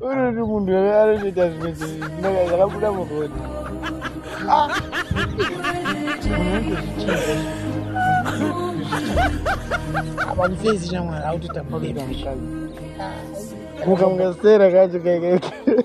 Ururi munhu here anotoita zvimwe zvinaka zvakabuda muroni. Ah! Apa musezi shamwari akutotamba kuita mukadzi. Muka mukasera kacho kaikaikai.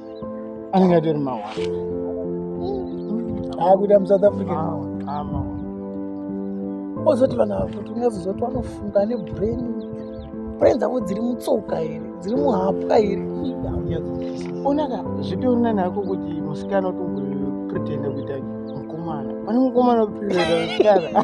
anenge atori mawa akuita musouth africa ozoti vanhu vakuti unazozoti vanofunga ane brain brain dzavo dziri mutsoka here dziri muhapwa here onaka zvipi urina nako kuti musikana utombopretenda kuita mukomana pane mukomana utoprenda musikana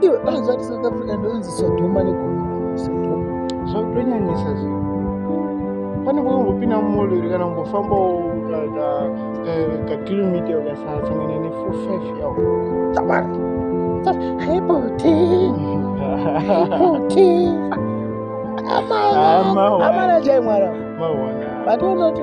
iwe anozvati south africa ndoinzi sodhoma negomora sodhoma zvakutonyanyisa zvi pane kwakambopinda mumolori kana kumbofambawo kakilomita eh, ukasasangana nefour five yavo tabara haibuti haibuti amana amana chaimwara vatoona kuti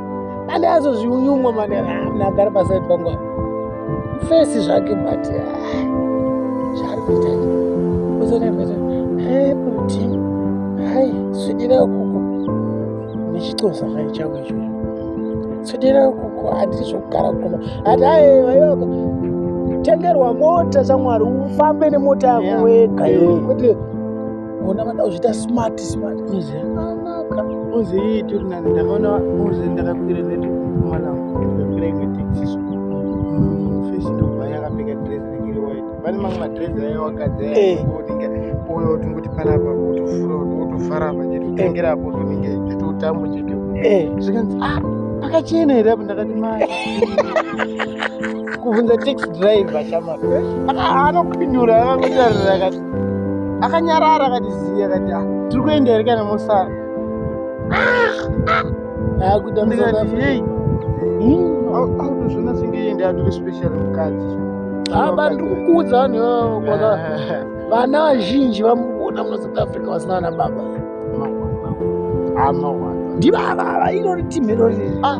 ande azozviunyumwa mane amna agara paside pangu fesi zvake but zvaari kuita uzonakuita hai kuti hai swidira kuku nechitosa hai chavo ichocho swidira kuku handiri zvokugara kuno hati hai vaiwako tengerwa mota shamwari ufambe nemota yako wega kwete yeah. Ona vada kuzviita smart smart. Muzi akanaka. Muzi iyi tiri nani ndakaona muzi ndakakwira ndati kumana ndakakwira imwe taxi so. Mm, face ndobva yakapfeka dress rinenge iri white. Pane mamwe madress ayo wakadzi ayo Eh. unenge uyo tingoti panapa wotofura wotofara apa chete kutengera apo tonenge chitotambo chete. Eh. Zvikanzi ah pakachena here apa ndakati mai. Kubvunza taxi driver chama. Anokupindura anongotarira akati akanyarara akati ziya akati ah, tiri kuenda here kana mosara akutozvona senge yende atori special mukadzi haba ndiri kukuudza vanhu ivavo kwaka vana vazhinji vamukuona muna south africa vasina vana baba ndivavava iro ritimiroriri ah,